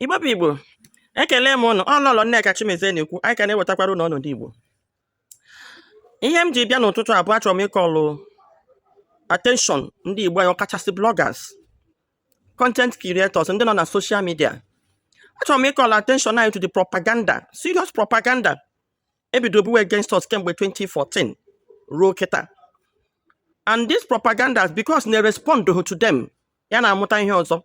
Igbo bụ Igbo, ekele m ụnụ, ọ Lọlọ Nneka Chimezie na-ekwu, anyị ka na-ewetakwara ụnụ ọnọdụ Igbo. Ihe m ji bịa n'ụtụtụ a bụ achọrọ m ịkọlụ attention ndị Igbo anyị ọkachasị bloggers, content creators, ndị nọ na social media. Achọrọ m ịkọlụ attention anyị to the propaganda, serious propaganda e bido buwe against us kemgbe 2014 ruo kịta. And these propagandas because na-respond to them, ya na-amụta ihe ọzọ.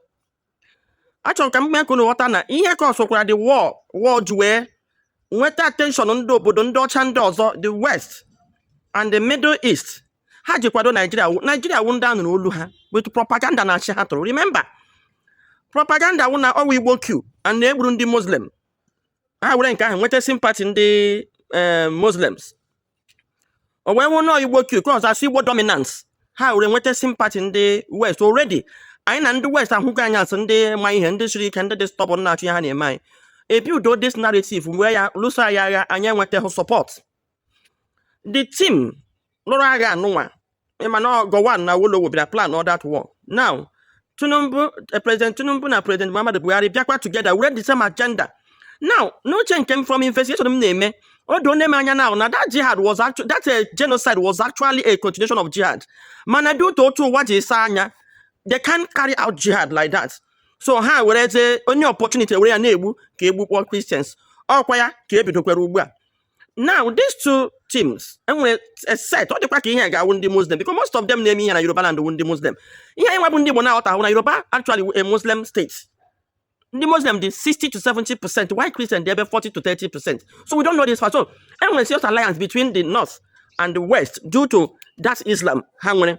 achọrọ m ka m mee ka unu ghọta na ihe causekwara the war ha ji wee nweta attention ndị obodo ndị ọcha ndị ọzọ the west and the middle east ha ji kwado naijiria wụ- naijiria wụ ndị a nụrụ olu ha with propaganda na ashị ha tụrụ remember propaganda wụ na ọ wụ igbo coup and na e gburu ndị muslim ha were nke ahụ nweta sympathy ndị eh, muslims o wee hụ na igbo coup cause a sị igbo dominance ha were nweta sympathy ndị west already anyị na ndị west ahụgo anyị as ndị ma ihe ndị siri ike ndị dị stubborn na-achụ ihe ha na-eme anyị e builduo this narrative were ya lụso anyị agha anyị enwetaghị support the team lụrụ agha anụnwa ị ma na Gowon na Awolowo bịara plan all that war now Tinubu eh, President Tinubu na President Muhammadu Buhari bịakwa together with the same agenda now n'uche nke m from investigation m na-eme o doona m anya now na that jihad was actually that eh, genocide was actually a continuation of jihad mana due to otu ụwa ji saa anya they can't carry out jihad like that so ha werezie any opportunity were ya na-egbu ka e gbukpọọ Christians ọ kwa ya ka e bidokwara ugbu a now these two teams e nwere a set ọ dịkwa ka ihe ga-awụ ndị muslim because most of them na-eme ihe na yoruba land wụ ndị muslim ihe anyị nwa bụ ndị igbo na-aghọtahụ na yoruba actually a muslim state ndị muslim dị 60 to 70 percent while christian dị ebe 40 to 30 percent so we don't know this for so e nwere serious alliance between the north and the west due to that islam ha nwere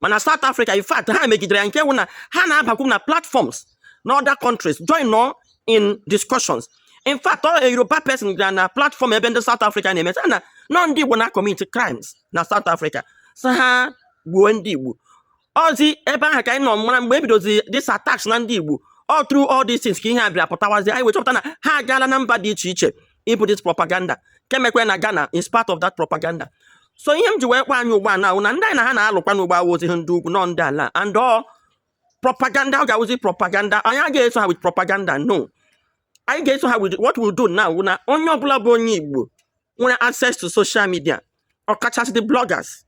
mana South Africa in fact ha megidere ya nke wụ na ha na-abakwu na platforms na other countries joinụọ in discussions in fact ọ Yoruba person gara na platform ebe ndị South Africa na-eme na ọ ndị Igbo na-commit crimes na South Africa so ha gbuo ndị Igbo ọọzi ebe ahụ ka anyị nọ mara mgbe e bidozi this attacks na ndị Igbo all through all these things ka ihe a bịara pụtawazi anyị wee chọpụta na ha agaala na mba dị iche iche ibu this propaganda nke mekwara na Ghana is part of that propaganda so ihe m ji wee kpọ anyị ugbu a now wụ na ndị anyị na ha na-alụkwanụ ugbu a awụhụzi ndị ugwu no ndị ala and ọ propaganda ọ ga-awụzi propaganda anyị agaghị eso ha with propaganda no anyị ga-eso ha with what we do now wụ na onye ọbụla bụ onye Igbo nwere access to social media ọkachasị the bloggers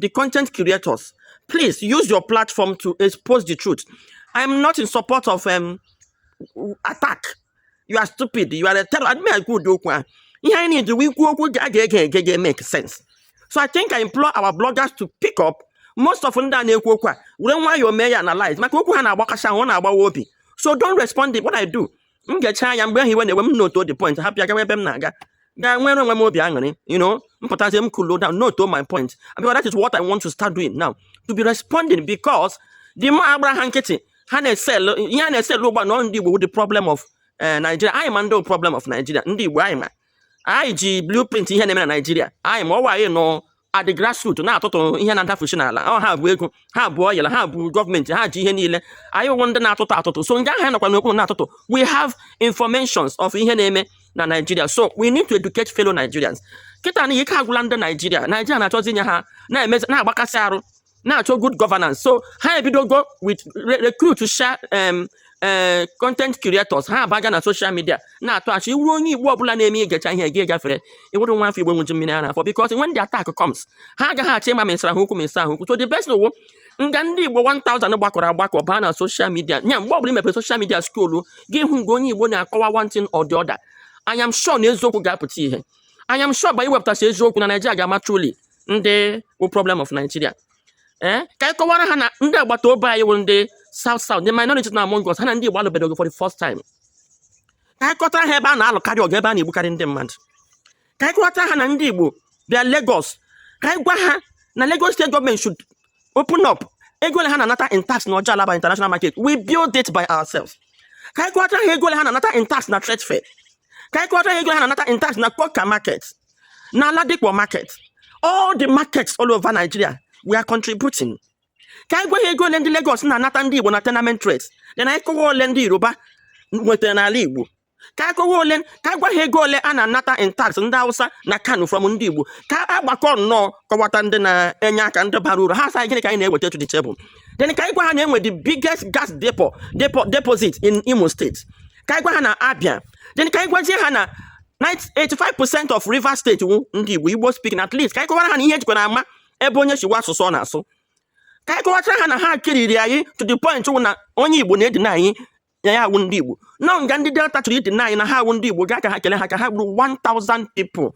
the content creators please use your platform to expose the truth i am not in support of um, attack you are stupid you are a terror adịghị ekwu ụdị okwu ahụ ihe anyị na-eji wee kwuo okwu a ga-ege ege ga make sense so i think i implore our bloggers to pick up most of ndị a na-ekwu okwu a were nwayọọ mee ya analyze maka okwu ha na-agbakacha ahụ ọ na-agbawa obi so don't respond to what i do m gechaa ya mgbe ahụ iwe na-ewe m note the point hapụ ya gawa ebe m na-aga ga nwere onwe m obi aṅụrị you know m pụtazie m cool down note my point because that is what I want to start doing now to be responding because the more agbara ha nkịtị ha na-esel ihe ha na-esel ugbu a na ndị Igbo wụ the problem of eh, Nigeria anyị ma ndị problem of Nigeria ndị Igbo anyị ma anyị ji blueprint ihe na-eme na Nigeria anyị ma ọ wụ anyị nọ at the grassroots na-atụtụ ihe na-adafusi n'ala ọ ha bu ego ha bu oil ha bu government ha ji ihe niile anyị wụ ndị na-atụtụ atụtụ so ndị ahụ nọkwa n'okpuru na-atụtụ we have informations of ihe na-eme na Nigeria so we need to educate fellow Nigerians kịta na ike agwụla ndị Nigeria Nigeria na-achọzi inye ha na-agbakasị arụ na-achọ good governance so ha ebidogo with recruit sha um, eh, content creators ha abaga na social media na-atụ asị ị wụrụ onye igbo ọbụla na-eme i gechaa ihe gị gafere ị wụrụ nwa afọ igbo ṅụju mmiri ara afọ because when the attack comes ha agaghị achọ ịma ma ị sara ha okwu ma ị saghị ha okwu so the best ọ wụ nga ndị igbo 1000 gbakọrọ agbakọ baa na social media nya mgbe ọbụla i mepere social media scroll gị hụ mgbe onye igbo na-akọwa one thing or the other I am sure na eziokwu ga-apụta ihe I am sure by iwepụtasị eziokwu na Nigeria ga-ama truly ndị bụ problem of Nigeria ee eh, ka anyị kọwara ha na ndị agbata obi anyị bụ ndị South South ndị minority nọ among us ha na ndị Igbo alụbeghị ọgụ for the first time ka anyị kọtara ha ebe a na-alụkarị ọgụ ebe a na-egbukarị ndị mmadụ ka anyị kọtara ha na ndị Igbo bịa Lagos ka anyị gwa ha na Lagos state government should open up ego ole ha na-anata in tax na Ojo Alaba international market we build it by ourselves ka anyị kọtara ha ego ole ha na-anata in tax na trade fair ka anyị kọtara ha ego ole ha na-anata in tax na Coker market na Ladipo market all the markets all over Nigeria we are contributing ka anyị gwa ha ego ole ndị Lagos na-anata ndị Igbo na tenement rate then anyị kọwa ole ndị Yoruba nwetara n'ala Igbo ka anyị kọwa ole ka anyị gwa ha ego ole a na-anata in tax ndị Hausa na Kano from ndị Igbo ka a gbakọọ nnọọ kọwata ndị na-enye aka ndị bara uru ha sị gịnị ka anyị na-eweta to the table then ka anyị gwa ha na e nwere the biggest gas depot deposit in Imo State ka anyị gwa ha na Abia then ka anyị gwazie ha na 85 percent of Rivers State wụ ndị igbo igbo speaking at least ka anyị kọwara ha na ihe e jikwa na-ama ebe onye si wụ asụsụ ọ na-asụ ka anyị kọwachara ha na ha kiriri anyị to the point wụ na onye igbo na-edeny ya ya awụghị ndị igbo na nga ndị delta chọrọ ịdeny na ha awụghị ndị igbo gaa ka ha kele ha ka ha gburu 1000 people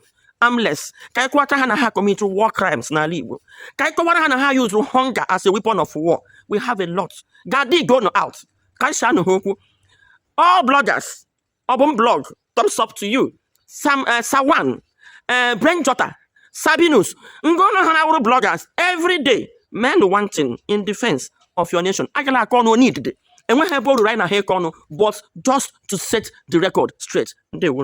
armless ka anyị kọwachara ha na ha commit war crimes n'ala igbo ka anyị kọwara ha na ha use hunger as a weapon of war we have a lot ga dig out ka anyị shanụ ha okwu all bloggers ọbụm blog thumbs up to you sawan eh, brain jotter sabinus ngwa unu ha na-awụrụ bloggers every day meenụ one thing in defense of your nation agala akọ ọnụ onye idide enweghị ebe o ruru anyị na ha ịkọ ọnụ but just to set the record straight ndewo